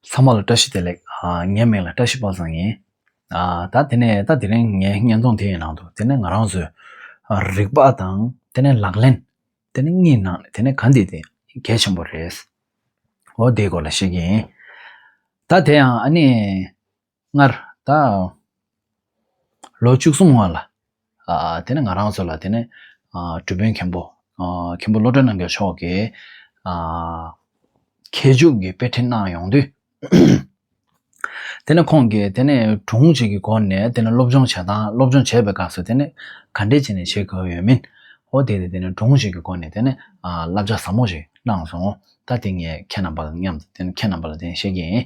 ཚང་མ་ལ་བཀྲ་ཤིས་བདེ་ལེགས། ངའི་མིང་ལ་བཀྲ་ཤིས་དཔག་བཟང་ཡིན། ད་དེ་ནས་ད་དེ་རིང་ངའི་བརྙན་ཐུང་དེའི་ནང་དུ་དེ་ནས་ང་རང་ཚོའི་རིག་པ་དང་དེ་ནས་ལག་ལེན་དེ་ནི་གཉིས་ནང་ནས་དེ་ནི་གང་དེ་དེ་གལ་ཆེན་པོ་རེད། འོ་དེའི་སྐོར་ལ་བཤད་ཀྱི་ཡིན། ད་དེ་ཡང་ཨ་ནི། སྔར། ད། ལོ་བཅུ་གསུམ་སྔོན་ལ། དེ་ནས་ང་རང་ཚོ་ལ་དེ་ནས། གྲུ་དཔོན་མཁན་པོ། མཁན་པོ་བློ་གྲོས་རྣམ་རྒྱལ་མཆོག་གིས། མཁས་མཇུག་གི་དཔེ་ཁྲིད་གནང་ཡོང་དུས། དེ་ནས་ཁོང་གིས་དེ་ནས་དྲུང་གཅིག་གི་སྒོ་ནས་དེ་ནས་སློབ་སྦྱོང་བྱེད་སྟངས་སློབ་སྦྱོང་བྱེད་པའི་སྐབས་སུ་དེ་ནས་ག་འདྲས་བྱས་ནས་བྱེད་དགོས་ཡོད་མིན། ཧོ་དེ་ནས་དེ་ནས་དྲུང་གཅིག་གི་སྒོ་ནས་དེ་ནས་བསླབ་བྱ་ཟབ་མོ་ཞིག་གནང་སོང། ད་དེ་ངས་ཁྱེད་རྣམ་པ་ལ་མཉམ་དུ་དེ་ནས་ཁྱེད་རྣམ་པ་ལ་དེ་ནས་བཤད་ཀྱི་ཡིན།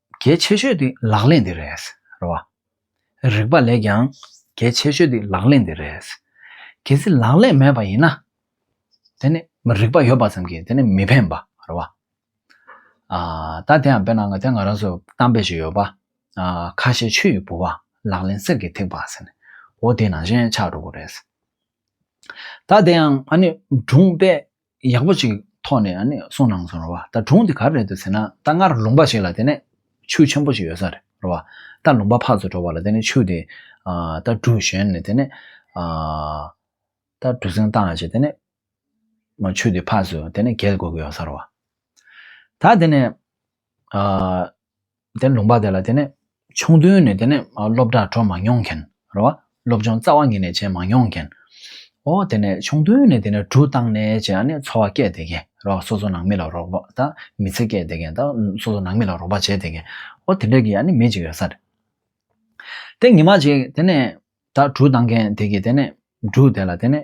གལ་ཆེ་ཤོས་དེ་ལག་ལེན་དེ་རེད། རིག་པ་ལས་ཀྱང་གལ་ཆེ་ཤོས་དེ་ལག་ལེན་དེ་རེད། གལ་སྲིད་ལག་ལེན་མེད་པ་ཡིན་ན། དེ་ནི་རིག་པ་ཡོད་པ་ཙམ་གྱིས་དེ་ནི་མི་ཕན་པ་རེད། བ་ད་དེ་ཡང་བེ་ནང་གི་དེ་ང་རང་ཚོ་གཏམ་དཔེ་ཞིག་ཡོད་པ། ཁ་ཤས་ཆུ་ཡི་བུ་བ་ལག་ལེན་གསེར་གྱི་ཐིགས་པ་ཟེར་ནས་འོ་དེ་ནང་བཞིན་ཆགས་འགྲོ་གི་རེད། ད་དེ་ཡང་ཨ་ནི་སྒྲུང་དཔེ་ཡག་པོ་ཅིག་ཐོག་ནས་གསུངས་གནང་སོང་རེད་བ་ད་དྲུང་དེ་ག་རེད་འདུག་ཟེར་ན་ད་སྔར་ལུང་པ་ཞིག་ལ་དེ་ནས་ཆུ་ཆེན་པོ་ཞིག་ཡོད་ས་རེད་བ་ད་ལུང་པ་ཕག་ཚོ་འགྲོ་བ་ལ་དེ་ནས་ཆུ་དེ་ད་གྲུ་བཞོན་ནས་དེ་ནས་ད་གྲུ་སེང་བཏང་བྱས་དེ་ནས་ཆུ་དེ་ཕག་ཚོ་དེ་ནས་འགེལ་དགོས་ཀྱི་ཡོད་ས་རེད་བ་ད་དེ་ནས་དེ་ནས་ལུང་པ་དེ་ལ་དེ་ནས་ཆུང་དུས་ནས་དེ་ནས་སློབ་གྲྭར་འགྲོ་མ་མྱོང་མཁན་རེད་བ། སློབ་སྦྱོང་རྩ་བ་ཉིད་ནས་བྱས་མ་མྱོང་མཁན། ཨོ་དེ་ནས་ཆུང་དུས་ནས་དེ་ནས་གྲུ་བཏང་ནས་བྱས་ཨ་ནི་འཚོ་བ་སྐྱེལ་བསྡད་མཁན་རེད་བ་སོ་སོ་ནང་མི་ལ་རོགས་པ་དང་མི་ཚེ་སྐྱེལ་བསྡད་མཁན་དང་སོ་སོ་ནང་མི་ལ་རོགས་པ་བྱས་བསྡད་མཁན་ཨོ་དེ་འདྲ་གི་ཨ་ནི་མི་གཅིག་ཡོད་ས་རེད། དེ་ཉི་མ་ཞིག་དེ་ནས་ད་གྲུ་བཏང་མཁན་དེ་གི་དེ་ནས་གྲུ་དེ་ལ་དེ་ནས།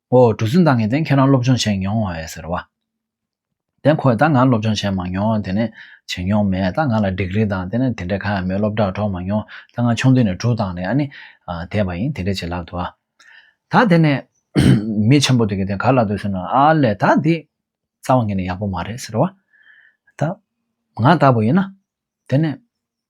ཨོ་གྲུ་བཙུན་ད་ངས་དེང་ཁྱེད་རང་སློབ་སྦྱོང་བྱས་མྱོང་བ་ཟེར་བ། དེ་ཁོས་ད་ང་སློབ་སྦྱོང་བྱས་མ་མྱོང་དེ་ནས་བྱེད་མྱོང་མེད་ད་ང་ལ་འགྲིག་རིགས་དང་དེ་ནས་དེ་འདྲས་གང་ཡང་མེད་སློབ་གྲྭར་འགྲོ་མ་མྱོང་ད་ང་ཆུང་དུས་ནས་གྲུ་དང་ནས་ཨ་ནི་དེད་པ་ཡིན་དེ་འདྲས་བྱེད་ལབ་འདུག་ཨ། ད་དེ་ནས་མི་ཆེན་པོ་དེ་གིས་དེ་ག་ལ་འདུག་ཟེར་ན་ཨ་ལས་ད་འདི་རྩ་བ་ངས་ནས་ཡག་པོ་མ་རེད་ཟེར་བ། ད་ང་ལྟ་བུ་ཡིན་ན་དེ་ནས་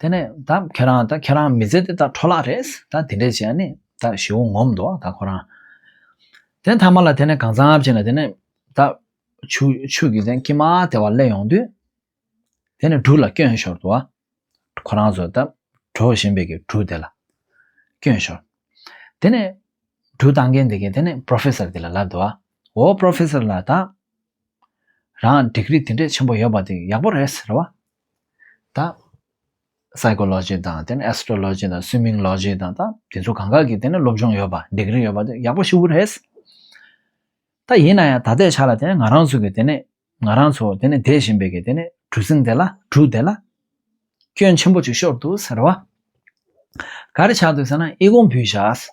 དེ་ནས་ད་ཁྱེད་རང་ད་ཁྱེད་རང་མི་ཚེ་དེ་ད་འཕྲོ་བརླག་རེད་ད་དེ་འདྲས་བྱས་ནས་ད་ཞི་བོ་ངོམ་འདོག་ད་ཁོ་རང། དེ་མཐའ་མ་ལ་དེ་ནས་གང་ཚ་བྱས་ནས་དེ་ནས་ད་ཆུ་ཆུ་གི་ཀྱི་མ་དེ་བ་སླེ་ཡོང་དུས་དེ་ནས་གྲུ་ལ་བསྐྱོན་ཞོར་དུ་ཨ་ཁོ་རང་ཚོ་ད་གྲོ་བཞིན་པའི་གི་གྲུ་དེ་ལ་བསྐྱོན་ཞོར། དེ་ནས་གྲུ་བཏང་མཁན་དེ་གི་དེ་ནས Professor དེ་ལ་ལབ་དུ་ཨོ Professor ལ་ད་རང་འགྲིག་རིགས་དེ་འདྲས་ཆེན་པོ་ཡོད་པ་དེ་ཡག་པོ་རེད་ཟེར་བ། ད། Psychology དང་དེ་ནས Astrology དང Swimming Logy དང་ད་དེ་ཚོ་གང་ག་གི་དེ་ནས་སློབ་སྦྱོང་ཡོད་པ་འགྲིག་རིགས་ཡོད་པ་དེ་ཡག་པོ་ཞུ་གི་རེད། ད་ཡིན་ན་ཡང་ད་ལྟའི་ཆ་ལ་དེ་ནས་ང་རང་ཚོ་གི་དེ་ནས་ང་རང་ཚོ་དེ་ནས་བསྡད་བཞིན་པའི་གི་དེ་ནས་གྲུ་གཟིངས་དེ་ལ་གྲུ་དེ་ལ། སྐྱོན་ཆེན་པོ་གཅིག་ཤོར་འདུག་ཟེར་བ། ག་རེ་བྱ་འདུག་ཟེར་ན་ཨི་གོང་བུའི་ཞགས།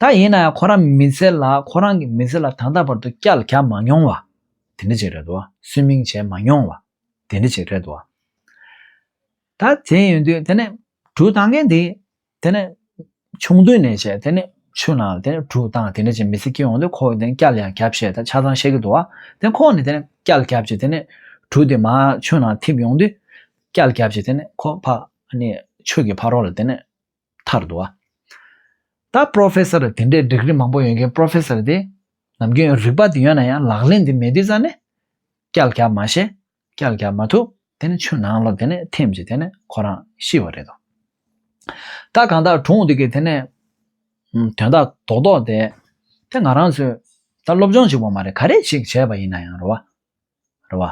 ད་ཡིན་ན་ཡང་ཁོ་རང་མི་ཚེ་ལ་ཁོ་རང་གི་མི་ཚེ་ལ་ད་ལྟ་བར་དུ་སྐྱག་རྒྱག་མ་མྱོང་བ་དེ་འདྲ་ཅིག་རེད་དོ། སུན་སྨིན་བྱས་མ་མྱོང་བ་དེ་འདྲ་ཅིག་རེད་དོ། ད་དེ་ཡིན་དུས་དེ་ནས་གྲུ་བཏང་མཁན་དེ་དེ་ནས་ཆུང་དུས་ནས་བྱས་དེ་ནས་ཆུ་ནང་ལ་དེ་ནས་གྲུ་བཏང་དེ་འདྲ་ཅིག་མི་ཚེ་སྐྱེལ་འོང་དུས་ཁོ་དེ་ནས་སྐྱག་ལ་ཡང་རྒྱབ་བཤད་དང་ཆ་ཚང་བཤད་ཀྱི་འདུག་བ། དེ་ཁོ་ནས་དེ་ནས་སྐྱག་ལ་རྒྱབ་ཅིག་དེ་ནས་གྲུ་དེ་མ་ཆུ་ནང་འཐིབས་ཡོང་དུས་སྐྱག་ལ་རྒྱབ་ཅིག་དེ་ནས་ཁོ་ཕ་ནས་ཆུ་གི་ཕ་རོགས་ལ་དེ་ནས་མཐར་དུ། ད Professor དེ་འདྲའི Degree མང་པོ་ཡོད་མཁན Professor དེ་ནམ་རྒྱུན་ཡང་རིག་པ་དེ་ཡོད་ན་ཡང་ལག་ལེན་དེ་མེད་དུས་ཙང་ནས་སྐྱལ་རྒྱབ་མ་བྱས་སྐྱལ་རྒྱབ་མ་ཐུབ་དེ་ནས་ཆུ་ནང་ལ་དེ་ནས་ཐིམ་ཅིག་དེ་ནས་ཁོ་རང་ཤི་བ་རེད་དོ། ད་གང་དག་གྲོངས་འདུག་གི་དེ་ནས་དོན་དག་རྡོག་རྡོག་དེ་དེ་ང་རང་ཚོས་ད་སློབ་སྦྱོང་ཅིག་བ་མ་རེད་ག་རེ་ཞིག་བྱས་པ་ཡིན་ན་ཡང་རེད་བ།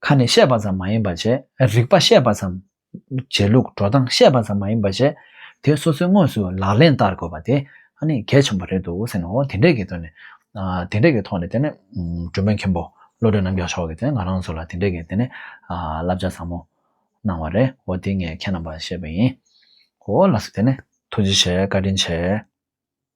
ཁ་ནས་བཤད་པ་ཙམ་མ་ཡིན་པར་བྱས། རིགས་པ་བཤད་པ་ཙམ། བྱེད་ལུགས་འགྲོ་སྟངས་བཤད་པ་ཙམ་མ་ཡིན་པར་བྱས། དེ་སོ་སོའི་དངོས་སུ་ལག་ལེན་བསྟར་དགོས་པ་དེ། ཨ་ནི་གལ་ཆེན་པོ་རེད་འདུག་ཟེར་ནའོ། དེ་འདྲའི་གི་དོན་ནི། དེ་འདྲའི་གི་ཐོག་ནས་དེ་ནི། སྒྲོལ་མ་མཁན་པོ་བློ་གྲོས་རྣམ་རྒྱལ་མཆོག་གིས་དེ་ང་རང་ཚོ་ལ་དེ་འདྲའི་གི་དེ་ནི། བསླབ་བྱ་བཟང་མོ། གནང་བ་རེད་འོ་དེ་ངས་ཁྱེད་རྣམ་པར་བཤད་པ་ཡིན། འོ་ལགས་སོ་དེ་ནི། ཐུགས་རྗེ་ཆེ་བཀའ་དྲིན་ཆེ།